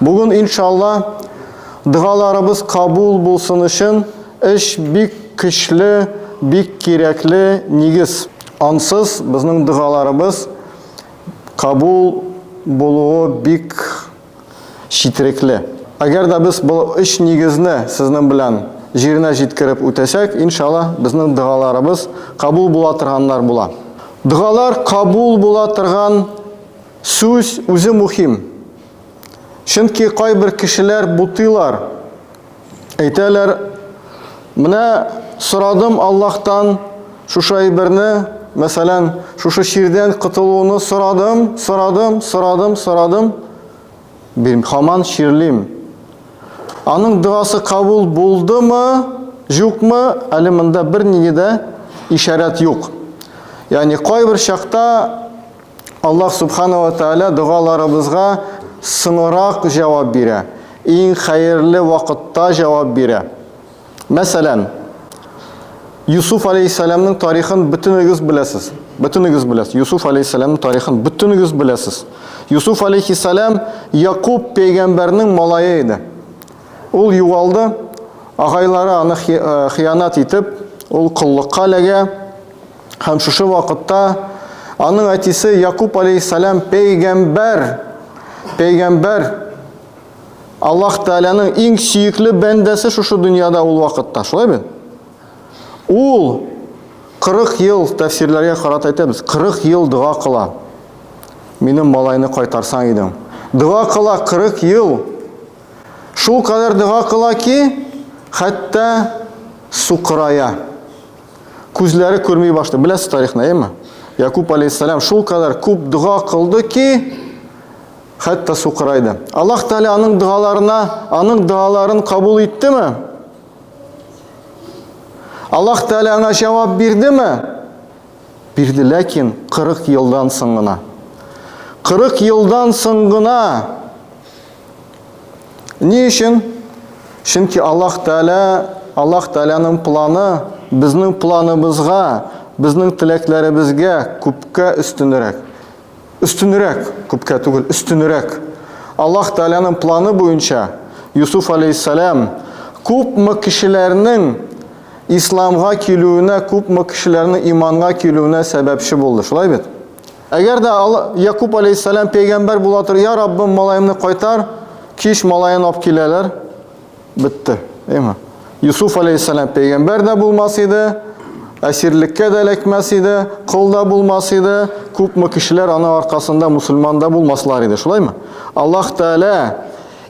Бүген иншалла догаларыбыз кабул булсын өчен эш бик көчле, бик кирәкле нигез. Ансыз безнең догаларыбыз кабул булуы бик четерекле. Әгәр дә без бу өч нигезне сезнең белән җиренә җиткереп үтәсәк, иншалла безнең догаларыбыз кабул була торганнар була. Догалар кабул була торган Сүз үзе мухим. Чөнки кайбер кешеләр бутыйлар. Әйтәләр, Менә сорадым Аллаһтан шушы әйберне, мәсәлән, шушы чирдән котылуны сорадым, сорадым, сорадым, сорадым, бирми, хаман чирлим. Аның догасы кабул булдымы, җукмы, әле монда бернинди дә ишарәт юк. Ягъни кайбер чакта Аллаһ Субхана ва Тәгалә догаларыбызга соңрак җавап бирә, иң хәерле вакытта җавап бирә. Мәсәлән, Юсуф алейһиссәламның тарихын бөтенегез беләсез. Бөтенегез беләсез. Юсуф алейһиссәламның тарихын бөтенегез беләсез. Юсуф алейһиссәлам Якуб пәйгамбәрнең малае иде. Ул югалды, агайлары аны э, хыянат итеп, ул коллыкка эләгә. Һәм шушы вакытта аның әтисе Якуб алейһиссалам пәйгамбәр, пәйгамбәр Аллаһ Тәгаләнең иң сөекле бәндәсе шушы дөньяда ул вакытта, шулай бит? Ул 40 ел тәфсирләргә карата әйтәбез, 40 ел дога кыла. Минем малайны кайтарсаң идең. Дога кыла 40 ел. Шул кадәр дога кыла ки, хәтта сукырая. Күзләре күрми башлый. Беләсез тарихны, әйеме? Якуб алейхиссалам шул кадәр күп дога кылды ки, хәтта сукырайды. Аллаһ Тәгалә аның догаларына, аның догаларын кабул иттеме? Аллаһ Тәгалә аңа җавап бирдеме? Бирде, ләкин 40 елдан соң гына. 40 елдан соң гына Ни өчен? Чөнки Аллаһ Тәгалә, Аллаһ Тәгаләнең планы безнең планыбызга, безнең теләкләребезгә күпкә өстенрәк. Өстенрәк, күпкә түгел, өстенрәк. Аллаһ Тәгаләнең планы буенча Юсуф алейһиссалам күпме кешеләрнең исламга килүенә, күпме кешеләрнең иманга килүенә сәбәпче булды. Шулай бит? Әгәр дә Якуб алейһиссалам пәйгамбәр була торып, "Я Раббым, малаемны кайтар", кич малаен алып киләләр. Бетте. Әйме? Юсуф алейһиссалам пәйгамбәр дә булмас иде, әсирлеккә дә эләкмәс иде, кол да булмас иде, күпме кешеләр аның аркасында мусульман да булмаслар иде, шулаймы? Аллаһ Тәгалә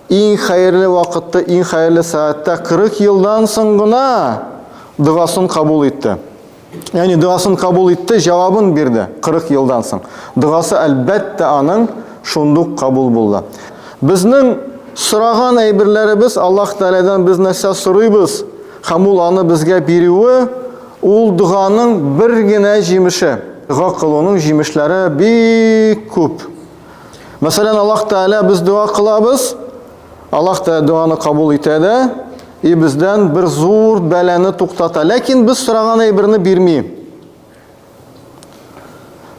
иң хәерле вакытта, иң хәерле сәгатьтә 40 елдан соң гына догасын кабул итте. Яни дуасын кабул итте, җавабын бирде 40 елдан соң. Дуасы әлбәттә аның шундук кабул булды. Безнең сораган әйберләребез Аллаһ Тәгаләдән без нәрсә сорыйбыз, һәм ул аны безгә бирүе, ул дуганың бер генә җимеше. Дуа кылуның җимешләре бик күп. Мәсәлән, Аллаһ Тәгалә без дуа кылабыз, Аллаһ та дуаны кабул итә дә, и бездән бер зур бәланы туктата. Ләкин без сораган әйберне бирми.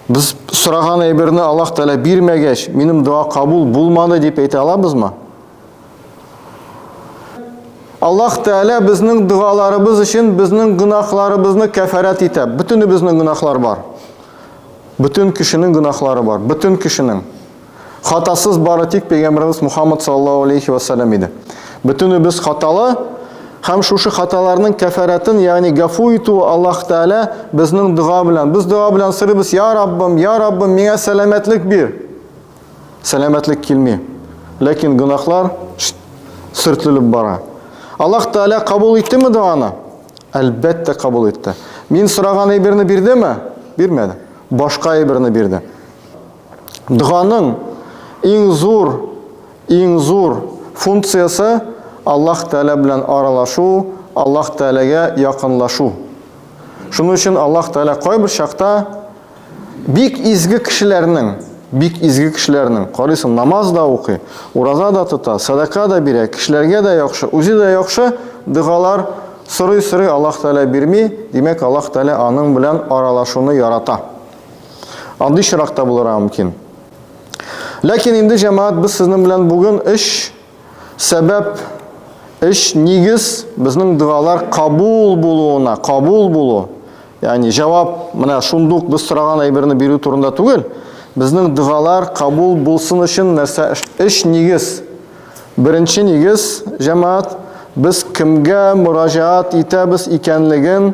Без сораган әйберне Аллаһ Тәгалә бирмәгәч, минем дуа кабул булмады дип әйтә алабызмы? Аллаһ Тәгалә безнең дуаларыбыз өчен безнең гөнаһларыбызны кәфарәт итә. Бөтенебезнең гөнаһлар бар. Бөтен кешенең гөнаһлары бар. Бөтен кешенең. Хатасыз бары тик пәйгамберебез Мухаммад саллаллаһу алейхи ва саллям иде. Бөтенебез хаталы һәм шушы хаталарның кәфәрәтен, ягъни гафу итү Аллаһ Тәгалә безнең дога белән. Без дога белән сырыбыз, "Я Раббым, я Раббым, миңа сәламәтлек бир." Сәламәтлек килми. Ләкин гынахлар сөртлелеп бара. Аллаһ Тәгалә кабул иттеме доганы? Әлбәттә кабул итте. Мин сораган әйберне бирдеме? Бирмәде. Башка әйберне бирде. Доганың иң зур, иң зур функциясе, Аллаһ Тәгалә белән аралашу, Аллаһ Тәгаләгә якынлашу. Шуның өчен Аллаһ Тәгалә кайбер чакта бик изге кешеләрнең, бик изге кешеләрнең, карыйсың, намаз да укый, ураза да тота, садака да бирә, кешеләргә дә яхшы, үзе дә яхшы догалар сорый-сорый Аллаһ Тәгалә бирми, димәк, Аллаһ Тәгалә аның белән аралашуны ярата. Андый чирак та булырга мөмкин. Ләкин инде җәмәгать без сезнең белән бүген өч сәбәп, өч нигез безнең догалар кабул булуына, кабул булу. Ягъни җавап менә шундук без сораган әйберне бирү турында түгел. Безнең догалар кабул булсын өчен нәрсә өч нигез. Беренче нигез, җәмәгать, без кемгә мөрәҗәгать итәбез икәнлеген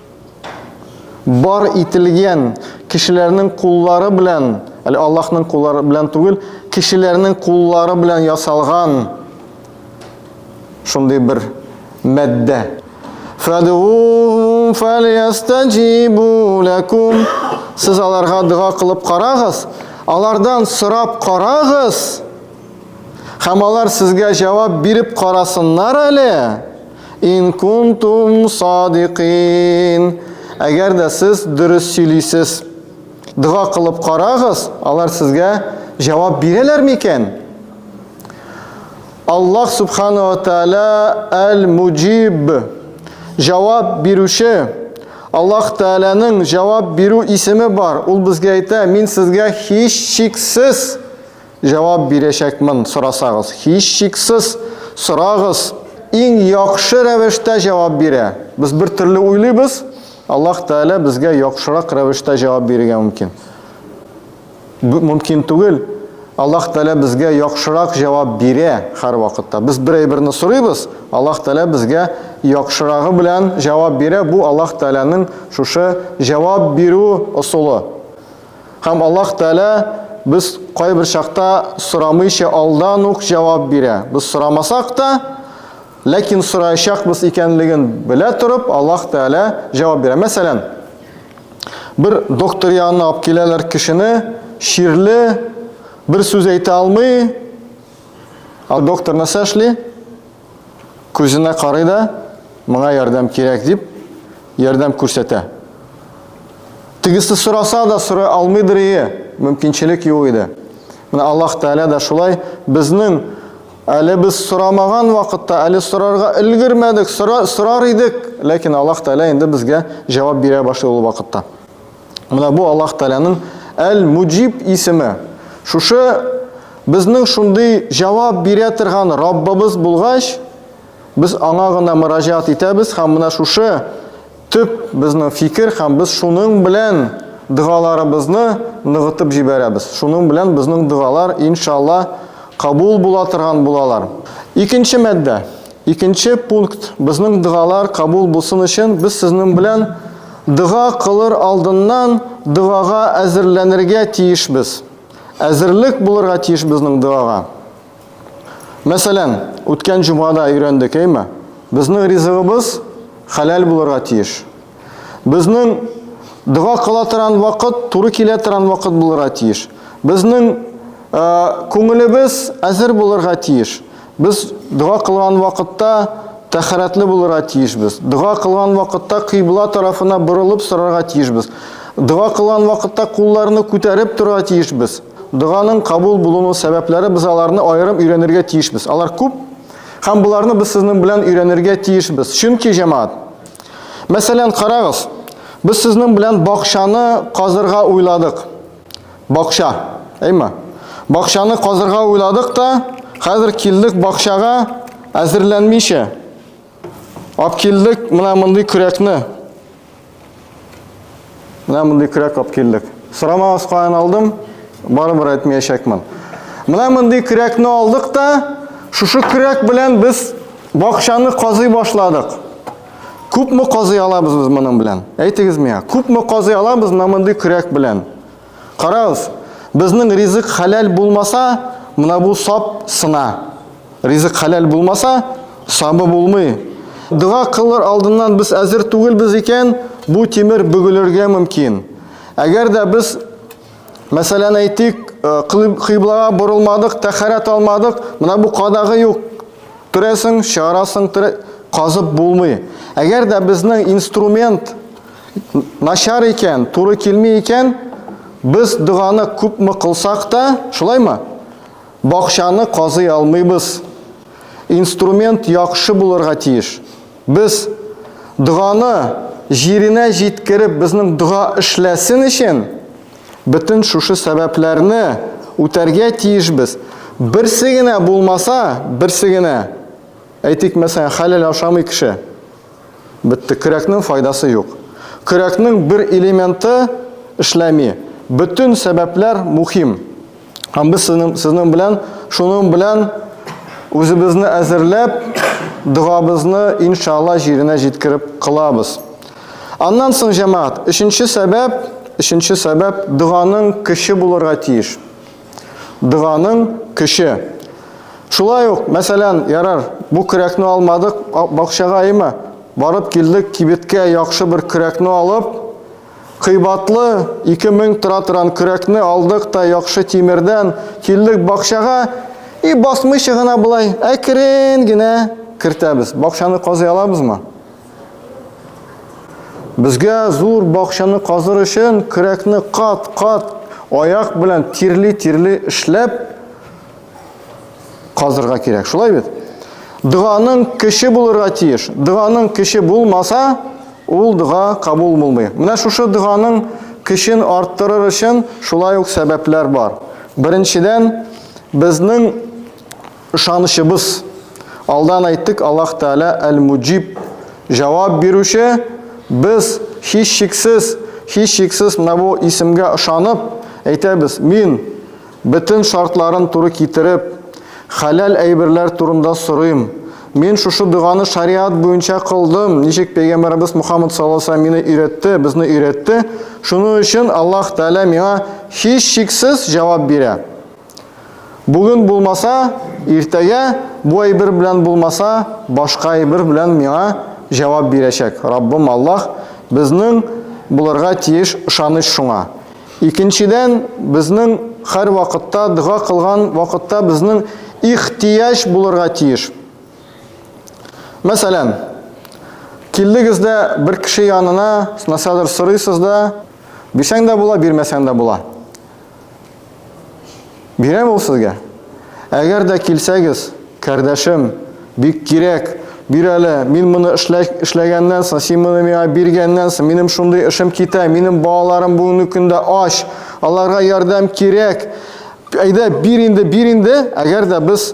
Бар ителгән кешеләрнең куллары белән, әле Аллаһның куллары белән түгел, кешеләрнең куллары белән ясалган шундый бер мәддә. Фадуум фалиястаҗибу лакум. Сез аларга дога кылып карагыз, алардан сорап карагыз. Һәм алар сезгә җавап биреп карасыннар әле. Ин кунтум садикин. Әгәр дә сез дөрес сөйлисез. Дога кылып карагыз, алар сезгә җавап бирәләр микән? Аллаһ субхана ва тааля әл-муҗиб. Җавап бирүче. Аллаһ Тәгаләнең җавап бирү исеме бар. Ул безгә әйтә, мин сезгә һич шиксез Җавап бирәчәкмен сорасагыз. Һичшиксез сорагыз! Иң яхшы рәвештә җавап бирә. Без бер төрле уйлыйбыз, Аллаһ Тәгалә безгә яхшырак рәвештә җавап бирергә мөмкин. Бу мөмкин түгел. Аллаһ Тәгалә безгә яхшырак җавап бирә һәрвакытта. Без бер әйберне сорыйбыз, Аллаһ Тәгалә безгә яхшырагы белән җавап бирә. Бу Аллаһ Тәгаләнең шушы җавап бирү ысулы. Һәм Аллаһ Тәгалә без кайбер чакта сорамыйча алдан ук җавап бирә. Без сорамасак та, ләкин сораячакбыз икәнлеген белә торып, Аллаһ Тәгалә җавап бирә. Мәсәлән, бер доктор янына алып киләләр кешене, чирле, бер сүз әйтә алмый. Ал доктор нәрсә эшли? Күзенә карый да, моңа ярдәм кирәк дип, ярдәм күрсәтә. Тегесе сораса да сорый алмыйдыр ие, мөмкинчелек юк иде. Менә Аллаһ Тәгалә дә шулай безнең әле без сорамаган вакытта, әле сорарга өлгермәдек, сорар идек, ләкин Аллаһ Тәгалә инде безгә җавап бирә башлый ул вакытта. Менә бу Аллаһ Тәгаләнең Әл-Муҗиб исеме. Шушы безнең шундый җавап бирә торган Раббыбыз булгач, без аңа гына мөрәҗәгать итәбез һәм менә шушы төп безнең фикер һәм без шуның белән догаларыбызны ныгытып җибәрәбез. Шуның белән безнең догалар иншалла кабул була торган булалар. Икенче мәддә. Икенче пункт, безнең догалар кабул булсын өчен, без сезнең белән дога кылыр алдыннан догага әзерләнергә тиешбез. Әзерлек булырга тиеш безнең догага. Мәсәлән, үткән җомгада өйрәндек, әйме? Безнең ризыгыбыз хәләл булырга тиеш. Безнең дога кыла торган вакыт туры килә торган вакыт булырга тиеш. Безнең э, күңелебез әзер булырга тиеш. Без дога кылган вакытта тәхәрәтле булырга тиешбез. Дога кылган вакытта кыйбла тарафына борылып сорарга тиешбез. Дога кылган вакытта кулларны күтәреп торырга тиешбез. Доганың кабул булуның сәбәпләре без аларны аерым өйрәнергә тиешбез. Алар күп, һәм боларны без сезнең белән өйрәнергә тиешбез. Чөнки җәмаат Мәсәлән, карагыз, без сезнең белән бакчаны казырга уйладык. Бакча, әйме? Бакчаны казырга уйладык та, хәзер килдек бакчага әзерләнмичә. Ап килдек, менә мондый көрәкне. Менә мондый көрәк алып килдек. Сорамагыз каян алдым, барыбер әйтмәячәкмен. Менә мондый көрәкне алдык та, шушы көрәк белән без бакчаны казый башладык. Күпме казый алабыз без моның белән? Әйтегез миңа, күпме казый алабыз менә мондый көрәк белән? Карагыз, безнең ризык хәләл булмаса, менә бу сап сына. Ризык хәләл булмаса, сабы булмый. Дога кылыр алдыннан без әзер түгелбез икән, бу тимер бөгелергә мөмкин. Әгәр дә без, мәсәлән, әйтик, э, кыйблага борылмадык, тәхәрәт алмадык, менә бу кадагы юк. Төрәсең, чыгарасың, казып булмый. Әгәр дә безнең инструмент начар икән, туры килми икән, без доганы күпме кылсак та, шулаймы? Бакчаны казый алмыйбыз. Инструмент яхшы булырга тиеш. Без доганы җиренә җиткереп, безнең дога эшләсен өчен бөтен шушы сәбәпләрне үтәргә тиешбез. Берсе генә булмаса, берсе генә. Әйтик, мәсәлән, хәләл ашамый кеше. Бетте, көрәкнең файдасы юк. Көрәкнең бер элементы эшләми. Бөтен сәбәпләр мухим. Һәм без сезнең, сезнең белән, шуның белән үзебезне әзерләп, догабызны иншалла җиренә җиткереп кылабыз. Аннан соң, җәмәгать, өченче сәбәп, өченче сәбәп доганың көче булырга тиеш. Доганың көче. Шулай ук, мәсәлән, ярар, бу көрәкне алмадык, бакчага имә. Барып килдек, кибеткә яхшы бер көрәкне алып, кыйбатлы 2000 тора торган көрәкне алдык та яхшы тимердән, килдек бакчага и басмыйча гына болай әкрен генә кертәбез. Бакчаны казый алабызмы? Безгә зур бакчаны казыр өчен көрәкне кат-кат аяк белән тирли-тирли эшләп казырга кирәк. Шулай бит? Дъганың кече булырга тиеш. Дъганың кече булмаса, ул дъга кабул булмый. Менә шушы дъганың кечен арттырыр өчен шулай ук сәбәпләр бар. Беренчедән, безнең Ышанычыбыз. Алдан әйттек, Аллаһ Тәгалә әл-Муҗиб, җавап бирүче. Без, һичшиксез, һичшиксез менә бу исемгә ышанып, әйтәбез, Мин, бөтен шартларын туры китереп, хәләл әйберләр турында сорыйм. Мин шушы доганы шариат буенча кылдым, ничек Пәйгамбәребез Мухаммад саллаллаһу алейһи ва сәлләм мине өйрәтте, безне өйрәтте. Шуның өчен Аллаһ Тәгалә миңа, һичшиксез, җавап бирә. Бүген булмаса, иртәгә бу әйбер белән булмаса, башка әйбер белән миңа җавап бирәчәк. Раббым Аллаһ безнең булырга тиеш ышаныч шуңа. Икенчедән, безнең хәр вакытта дога кылган вакытта безнең ихтияҗ булырга тиеш. Мәсәлән, килдегез дә бер кеше янына, насадыр сорыйсыз да, бирсәң дә була, бирмәсәң дә була. Бирәм ул сезгә. Әгәр дә килсәгез, кардәшем, бик кирәк, бир әле, мин моны эшләгәннән соң, син моны миңа биргәннән соң, минем шундый эшем китә, минем балаларым бүгенге көндә ач, аларга ярдәм кирәк. Әйдә, бир инде, бир инде, әгәр дә без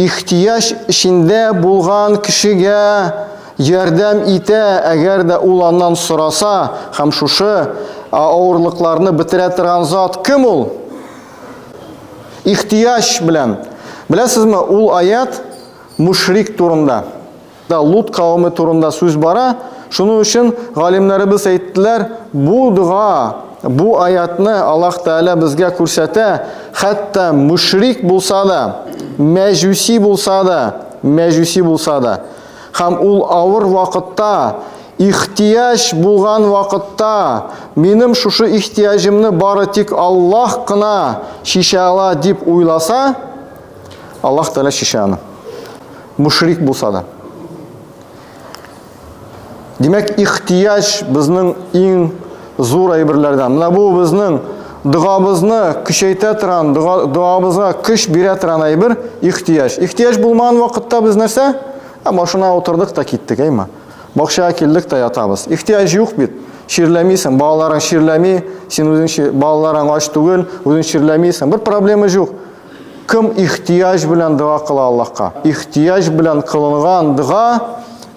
Ихтыяҗ эчендә булган кешегә ярдәм итә, әгәр дә ул аннан сораса, һәм шушы авырлыкларны бетерә торган зат кем ул? Ихтыяҗ белән. Беләсезме, ул аять мушрик турында. Да Лут кавеме турында сүз бара, шуның өчен галимнәребез әйттеләр, бу дога, бу аятны Аллаһ Тәгалә безгә күрсәтә, хәтта мөшрик булса да, мәҗүси булса да, мәҗүси булса да, һәм ул авыр вакытта, ихтияҗ булган вакытта, минем шушы ихтияҗымны бары тик Аллаһ кына чишә ала дип уйласа, Аллаһ Тәгалә чишә аны. Мушрик булса да. Димәк, ихтияҗ безнең иң зур әйберләрдән. Менә бу безнең догабызны көчәйтә торган, догабызга көч бирә торган әйбер ихтияҗ. Ихтияҗ булмаган вакытта без нәрсә? Ә машина утырдык та киттек, әйме? Бакчага килдек тә ятабыз. Ихтияҗ юк бит. Чирләмисең, балаларың чирләми, син үзең балаларың ач түгел, үзең чирләмисең. Бер проблема юк. Кем ихтыяҗ белән дога кыла Аллаһка? Ихтыяҗ белән кылынган дога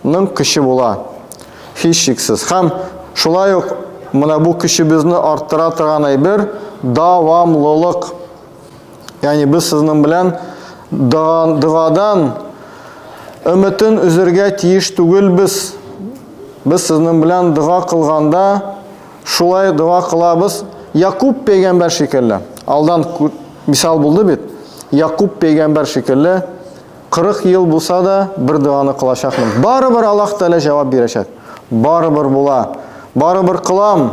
ның көче була, һичшиксез. Һәм шулай ук менә бу көчебезне арттыра торган әйбер, дәвамлылык. Ягъни без сезнең белән догадан өметен үзергә тиеш түгелбез. Без сезнең белән дога кылганда, Шулай дога кылабыз, Якуб пәйгамбәр шикелле. Алдан мисал булды бит. Якуб пәйгамбәр шикелле 40 ел булса да бер доганы кылачакмын. Барыбер Аллаһ Тәгалә җавап бирәчәк. Барыбер була. Барыбер кылам.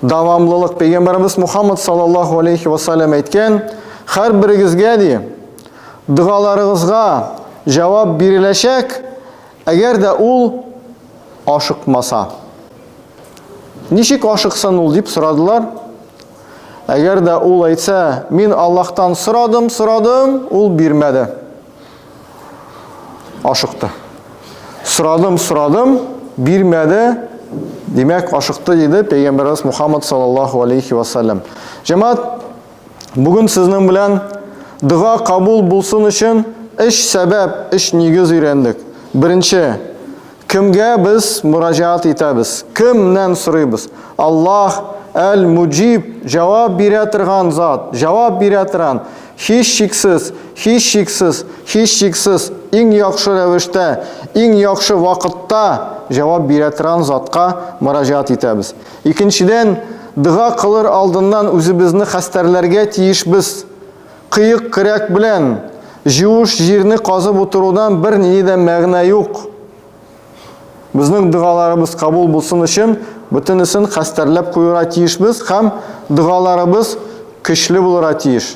Дәвамлылык пәйгамбәребез Мухаммад саллаллаһу алейхи ва саллям әйткән, һәрберегезгә ди, догаларыгызга җавап биреләчәк. Әгәр дә ул ашыкмаса. Ничек ашыксын ул, дип сорадылар. Әгәр дә ул әйтсә, мин Аллаһтан сорадым, сорадым, ул бирмәде. Ашыкты. Сорадым, сорадым, бирмәде, Димәк, ашыкты диде пәйгамбәрбез Мухаммад саллаллаху алейхи ва саллям. Җәмәгать Бүген сезнең белән дога кабул булсын өчен өч сәбәп, өч нигез өйрәндек. Беренче, кемгә без мөрәҗәгать итәбез? Кемнән сорыйбыз? Аллаһ Әл-Муҗиб, җавап бирә торган зат, җавап бирә торган. Һич шиксез, һич шиксез, һич шиксез, иң яхшы рәвештә, иң яхшы вакытта җавап бирә торган затка мөрәҗәгать итәбез. Икенчедән, дога кылыр алдыннан үзебезне хәстәрләргә тиешбез. Кыек көрәк белән җуыш җирне казып утырудан бернинди дә мәгънә юк. Безнең догаларыбыз кабул булсын өчен бөтенесен хәстәрләп куюра тиешбез һәм догаларыбыз көчле булыра тиеш.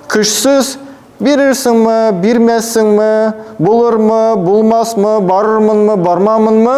Көчсез, бирерсеңме, бирмәссеңме, булырмы, булмасмы, барырмынмы, бармамынмы?